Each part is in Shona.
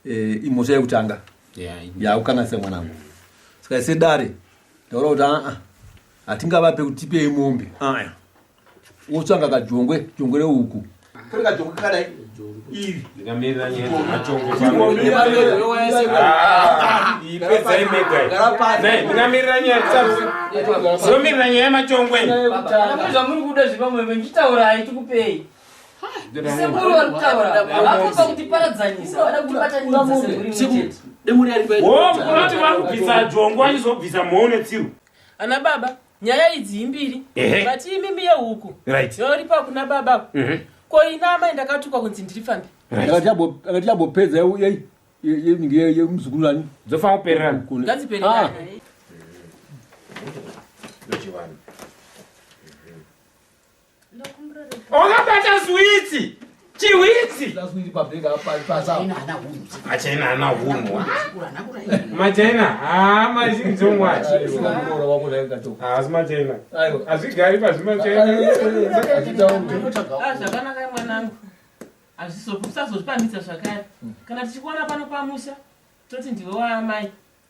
eh, imhosva yekutanga yaukanganisa mwanangu saka ise dare taura kuti aa hatingavape kuti tipei mombe aya wotsvanga kajongwe jongwe reuku kuri kajongwe kakadai iri ndingamirira nyayapedzaimegaiingamirira nyaya zomirira nyaya yemachongwe zvamuri kuda zvipamwe mechitaurai tikupei vanobvisa jongo achizobvisa mhou netsiru ana baba nyaya idzi imbiri but imimi yehuku yoripa kuna baba mhm. ko ina amai ndakatukwa kunzi ndiri fambi akati yabopedza yemuzukuru ani dzofanira kupererana ngadzipererana wakabata switsi chihwitsi achaina ana hunhu machaina haa mazhinzongwaasi machaina hazvigari pazvimachainazvakanaka mwanangu hazvizokusazotipamitsa zvakare kana tichikuona pano pamusha toti ndiwe waamai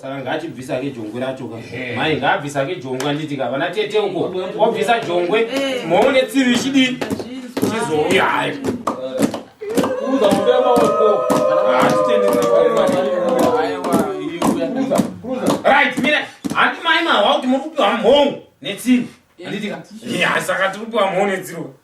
saka ngaachibvisa ke jongwe racho ka mai ngaabvisa ke jongwe anditi ka vana tete uko wabvisa jongwe eh. moone tsivi ichidii chizouya hayo kuuza muda maoko right mira handi mai mahwa kuti muri kupiwa mhongo netsivi anditi ka saka tiri kupiwa mhongo netsivi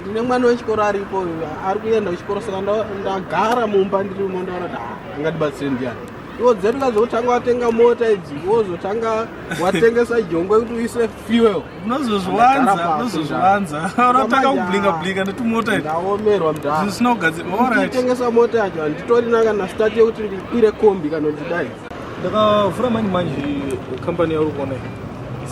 ndine mwana wechikoro aripo ari kuenda kuchikoro saka ndagara mumba ndiri umo ndaona kuti ah, angandibatsire ndiyani iwo dzedu kazotanga watenga mota idzi wozotanga watengesa jongwe kuti uise fuel unozozviwanza unozozviwanza unotanga kublinga blinga netumota ndaomerwa mdazvisina kugadzira tengesa mota yacho handitorina kana stati yekuti ndikwire kombi kana ndidai ndakavhura manje manje kambani yauri kuona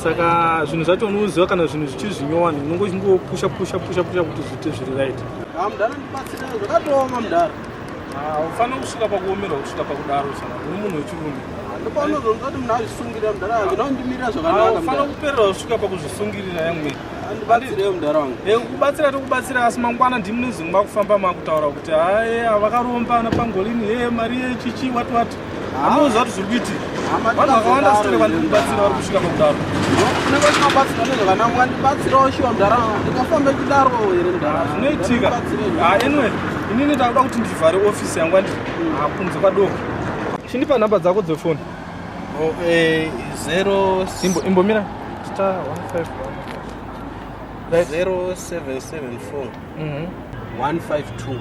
saka zvinhu zvacho unoziva kana zvinhu zvichiri zvinyowani unongo uchingopusha pusha pusha pusha kuti zviite zviri right ah, mudhara ndibatsira zvakatooma mudhara ufanira ah, kusvika pakuomerwa kusvika pakudaro sana uri munhu wechirume ndopaunozomuza kuti munhu azvisungirira mudhara wangu ndondimirira zvakanakaufanira ah, kuperera kusvika pakuzvisungirira yamwe ndibatsireyo mudhara wangu eh, kubatsira tokubatsira asi mangwana ndimune zvinhu makufamba makutaura kuti haye vakarombana pangolini he mari yechichi wati wati Anoziva kuti zviri kuitika. Vanhu vakawanda sitore vandiri kubatsira vari kusvika pakudaro. Unenge uchimabatsira nezve vana wangu vandibatsirawo shuwa mudhara wangu. Ndingafambe kudaro here mudhara? Zvinoitika. Ah, anyway, inini ndakuda kuti ndivhare ofisi yangu andiri ah, kunze kwadoko. Chindipa nhamba dzako dzefoni. Oh, eh, zero... Imbo, imbomira. Star 151. Right. 0774. Mm -hmm. 152.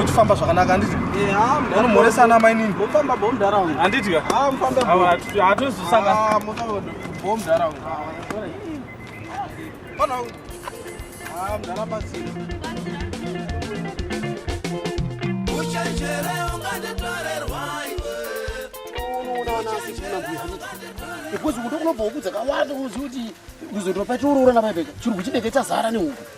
uchifamba zvakanaka handiti unomhoresana mainini handiti hatozosangana because unotokunobva wokudza kawanda unoziva kuti kuzotopa tiuroora nabaibeka chirungu chinenge chazara nehuku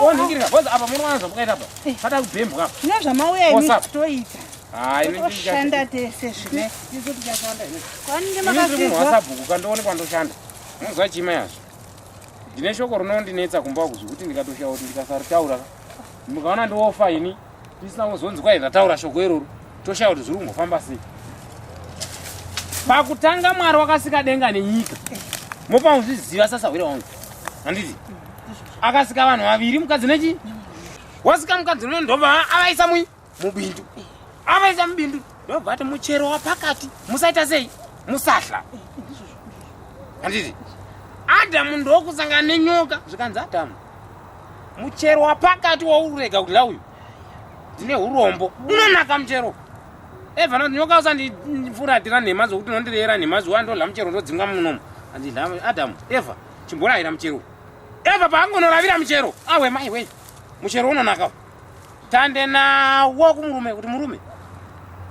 Oningirika boss apa munowana zvamukaita apa. Eh. Fata kubhembwa. Zvino zvamauya imi toita. Hayi ini ndishanda tese zvine. Izo tikashanda ini. Kwani ngemakafika. Ini WhatsApp ukandoone kwandoshanda. Munozwa chima yazvo. Ndine shoko rinondinetsa kumba kuzvi kuti ndikatoshawo kuti ndikasaritaura. Mukaona ndiofa ini. Ndisina kuzonzi kwai ndataura shoko iroro. Toshaya kuti zviri kungofamba sei. Pakutanga Mwari wakasika denga nenyika. Mopa muzviziva sasa hwira wangu. Handiti? Akasika vanhu vaviri mukadzi nechi? Wasika mukadzi nechi ndobva avaisa mui mubindu. Avaisa mubindu. Ndobva ati muchero wapakati. Musaita sei? Musahla. Handiti? Adamu ndokusangana nenyoka zvikanzi Adamu. muchero wapakati waururega kudya uyu ndine urombo unonaka muchero evana kuti nyoka usandifuratira nhema dzokuti unondireyera nhema zuva ndodla muchero ndodzingwa munomu andidla adamu eva chimborayira muchero eva paangonoravira muchero awe mai wei muchero unonaka tande nawo kumurume kuti murume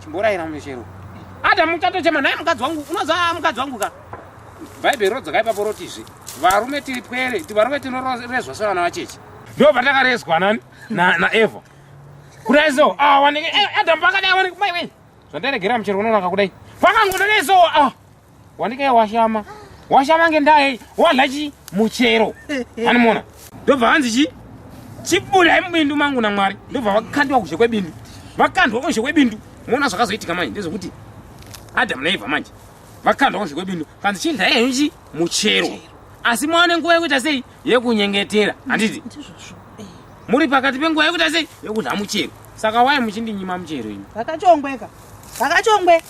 chimboraira mumeshero ada muchato chema naye mukadzi wangu unoza mukadzi wangu ka bhaibheri rodzoka ipapo rotizve varume tiri pwere ti varume tinorezwa sevana vacheche ndo patakarezwa nani naeva kudai so ah, waneke eh, adamu pakadai waneke mai wei zvandaregera muchero unonaka kudai pakangodadai so ah. wandike washama washama ngendaa yei wadla chi muchero animona ndobva hanzi chi chibudai mubindu mangu namwari ndobva vakandiwa kuzhe kwebindu vakandwa kuzhe kwebindu moona zvakazoitika manje ndezvekuti adam naeva manje vakandwa kuzhe kwebindu kanzi chidla yenyu chi muchero asi mwaone nguva yekuita sei yekunyengetera handiti eh. muri pakati penguva yekuita sei yekudla muchero saka wai muchindinyima muchero imi vakachongweka vakachongwe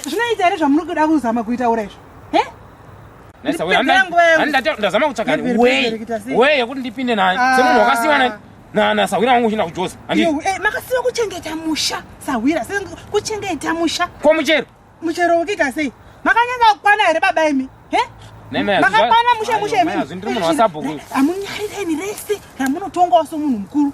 zvinoita here zvamuri kuda kuzama kuitaura izvo ndazama kutsvaga weye yekuti ndipinde naye ah. semunhu wakasiwa naye nana sahwira wangu uchinda kujoza eh, makasiwa kuchengeta musha sahwira kuchengeta musha ko muchero muchero wekita sei makanyanga kukwana here baba imi makakwana mushe mushe imi amunyarireni rese ramunotongawo somunhu mukuru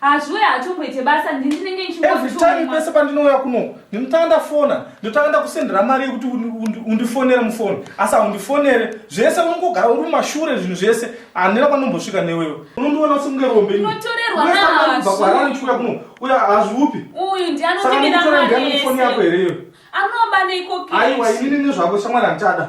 hazviwe hatomboite basa ndindinenge every time pese pandinouya kuno ndinotanga ndafona ndotanga ndakusendera mari yekuti undifonere mufoni asi haundifonere zvese unongogara uri mumashure zvinhu zvese handina kwandinombosvika newewe unondiona sekunge rombeakuuya kuno uya hazviupi uyu ndianoiaofoni yako here iyo anoba neikoaiwa inini nezvako shamwari handichada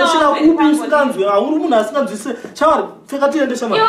tosvika kupi usinganzwe hauri munhu asinganzwise chavari pfeka tiende shamaiwa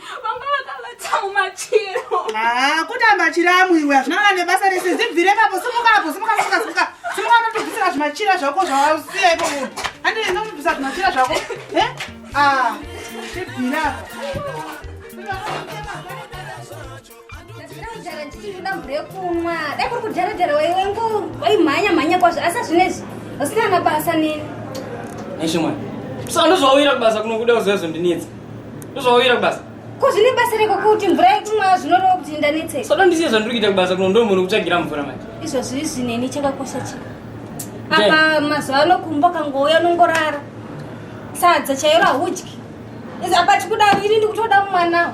vanga vakavata mumachiro ah, kutamba chiramu iwe hazvina kana nebasa rese zibvire papo simukapo simukasukasuka simuka unotobvisira zvimachira zvako zvausiya ipo munhu andii unotobvisa zvimachira zvako e ah, ibvirapa ndakudhara ndichitoda mvura yekumwa dai kuri kudharadhara waiwengu waimhanya mhanya kwazvo asi azvinezvi usina mabasa nini neshimwana saka ndozvauyira kubasa kunokuda kuzozondinetsa ndozvauyira kubasa ko zvine basa reko kuti mvura yekumwa zvinoreva kuti ndanetseka soda ndisiye zvandiri kuita kubasa kuno ndomhuri kutsvagira mvura manje izvozvo izvi neni chakakosha chi apa mazuva ano kumba kangouya unongorara sadza chairo haudyi apa chikuda ini ndikutoda mumwanawo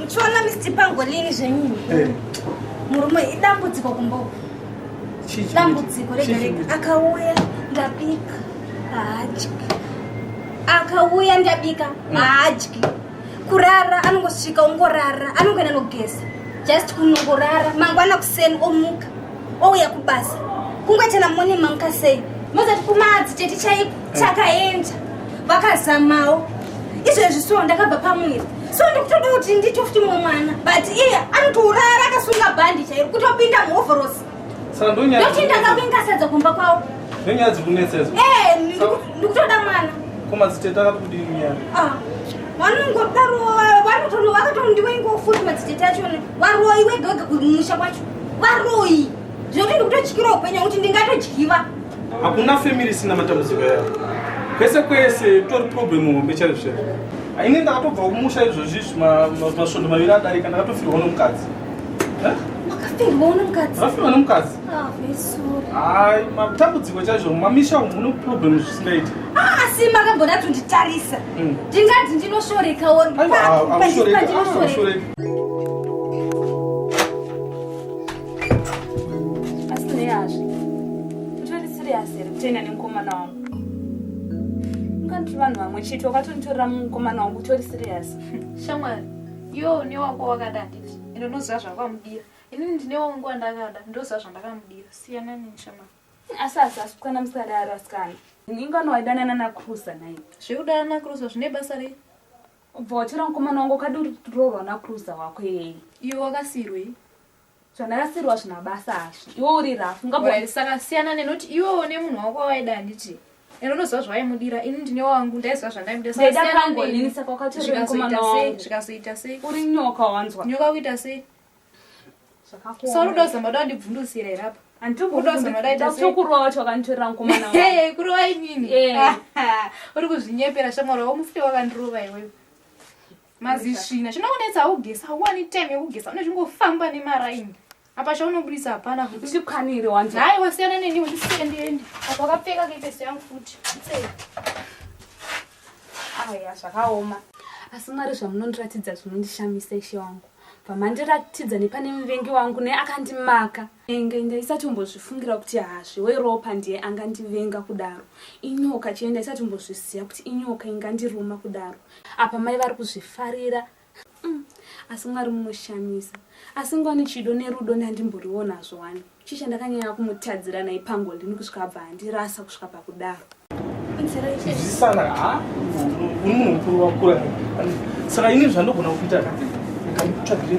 Muchiona Mr Pangolini zvenyu eh. murume idambudziko kumboku dambudziko rega rega akauya ndabika haadyi akauya ndabika mm. haadyi kurara anongosvika ongorara anongoenda nogeza just kunongorara mangwana kuseni omuka ouya kubasa kungoitana mone mamuka sei mozati kumadzi chete chaipo mm. chakaenda vakazamawo izvezvi so ndakabva pamwiri so ndikutoda kuti ndicho futi mumwe mwana but iye anotourara akasunga bhandi chairo kutopinda muhovhorosi ndokuti ndanga kuingasadza kumba kwavo ndonyaya dziri kunetsa idzo eh, ndikutoda mwana komadziteta akati kudii nyaya ah, vanongodaro vanotono vakatondiwa ingofuti madziteta acho varoi wegawega kumusha kwacho varoi zvekuti ndikutotyira upenyu kuti ndingatodyiva Hakuna family isina matambudziko yayo. Kwese kwese tori problem hombe chaizvo chaizvo. Ini ndakatobva kumusha izvozvi izvi masvondo maviri adarika ndakatofirwa nomukadzi. Eh? Wakafirwa nomukadzi? Wakafirwa nomukadzi. Ah, Hayi, matambudziko chaizvo mamisha umu mune problem zvisingaiti. Ah, asi makambona tonditarisa. Hmm. Ndingati ndinoshoreka or pa pa ndinoshoreka. vanhu vamwe chete wakatonitorera mukomana wangu utori serious shamwari iwo une wako wakada handiti ende unoziva zvakamudira inini ndine wangu wandakada ndoziva zvandakamudira siyana nini shamwari asi asi asi kukwana musadaro asikana ingano waidanana nakrusa nai zvekudana nakrusa zvine basa rei ubva watora mukomana wangu ukadi uri kutororwa nakrusa wako iyeye iwe wakasirwei zvandarasirwa zvina basa hazvo iwe uri rafu ngabsaka siyana nenoti iwe one munhu wako wawaida handiti and unoziva zvawaimudira ini ndine wangu ndaiziva zvandaimudirazvikazoita sei uri nyoka wanzwa nyoka kuita sei saurudozamba da ndibvundusira here apa andiudozomadaidakurowa wacho wakanditorera mukomana kurowa inini uri kuzvinyepera shamwari wamufuti wakandirova iwewe mazisvina chinokunetsa haugesa hauwani time yekugesa unezvingofamba nemaraini apa chaunobudisa hapana usikwanire wanzi hayi wasiyana neni undisiendeende apa wakapfeka kepeso yangu futi sei aya zvakaoma asi mwari zvamunondiratidza zvinondishamisa ishe wangu pamandiratidza nepane muvengi wangu naye akandimaka enge ndaisatombozvifungira kuti hazviwe ropa ndiye angandivenga kudaro inyoka chee ndaisatombozviziva kuti inyoka ingandiruma kudaro apa mai vari kuzvifarira mm. asi mwari munoshamisa asi ngwani chido nerudo ndandimboriwonazvo wani chisha ndakanyanya kumutadzira nai pango ndini kusvika abva handirasa kusvika pakudaro zvisana uri munhu mukuru wakura saka ini zvandogona kuita ndikamutsvagirei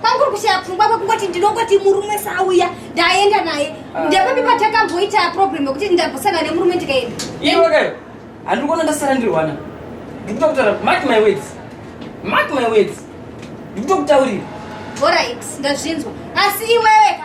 kwanguri kushaya pfungwa kwekungoti ndinongoti murume sauya ndaenda naye ah. ndepapi patakamboita problem yekuti ndambosangana nemurume ndikaenda iwekayo handiri kuona ndasara ndiri wana ndikuda kutaura mark my words mark my words ndikuda kutaurira orit ndazvinzwa asi iweweka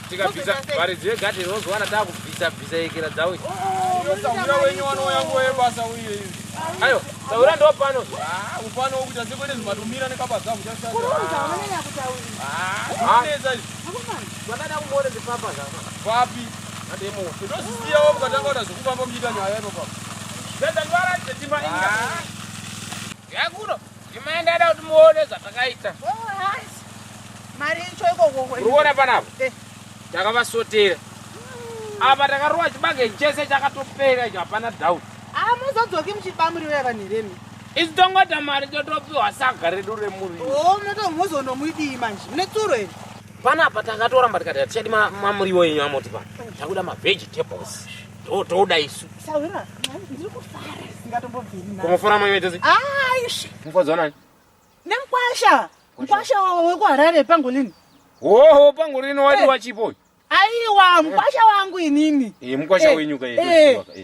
tikabvisa varidzi vegadheni vozowana taakubvisa bvisa yekera dzawo iyosaura wenyu wanouya nguva yebasa uye izi ayo saura ndo pano ah, upano wokuita sekwete zvimatomira nekabasa kuchaaneza ah, izi vakada kumone ndipapa zava vapi ademo ndozisiyawo mukatanga kuda zvekufamba muchiita nyaya ino papa zvezangwara zvetima inga ah. yakuno Imai ndada kuti muone zvatakaita. Mari icho ikoko. Uruona panapa? Eh. Takavasotera. Hmm. Apa takarowa chibage chese chakatopera icho hapana doubt. Ah, muzodzoki muchiba muriwo yavanheremi. Isi tongota mari totopiwa saga redu remuriwo. Oh, munoto muzonomwidii manje. Mune tsuro here? Panapa takatoramba tikati hatichadi mamuriwo enyu amoti pano. Takuda mavegetables. toda isu kumufura mwenye tese mufadzi wanani nemkwasha mkwasha wekuharare pangolini hoho pangolini wati eh. wachipo aiwa mkwasha eh. wangu inini eh, mkwasha wenyu ka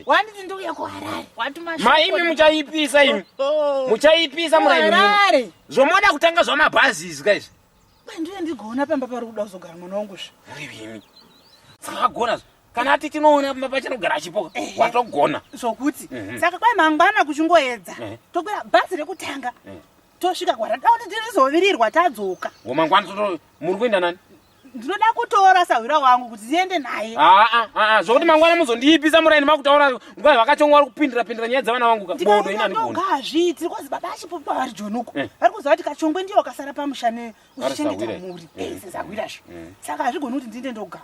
wanditi ndouya kuharare maimi muchaipisa imi oh, oh. muchaipisa muraharare zvomoda kutanga zvamabhazi izvi ka izvi ndiye ndigoona pamba pari kuda kuzogara mwana wangu zvi murivimi dzakagona zvo kana ati tinoona pamba pachanogara achipoka eh, watogona zvokuti mhm. saka kwai mangwana kuchingoedza eh. tokwira bhazi rekutanga eh. tosvika kwaradakuti tirizovirirwa tadzoka womangwana toto muri kuenda nani ndinoda kutora sahwira wangu kuti ndiende naye ah, ah, ah, zvokuti mangwana muzondiipisa muraini makutaura nguva yavakachonga vari kupindira pindira nyaya dzavana vangu kabodo inanigazviitiri kwazi baba achipupa vari jonuko eh. vari kuziva kuti kachongwe ndiyo wakasara pamusha ne uchichengeta mhuri eh, sezahwira zvo eh. saka hazvigoni kuti ndiende ndogara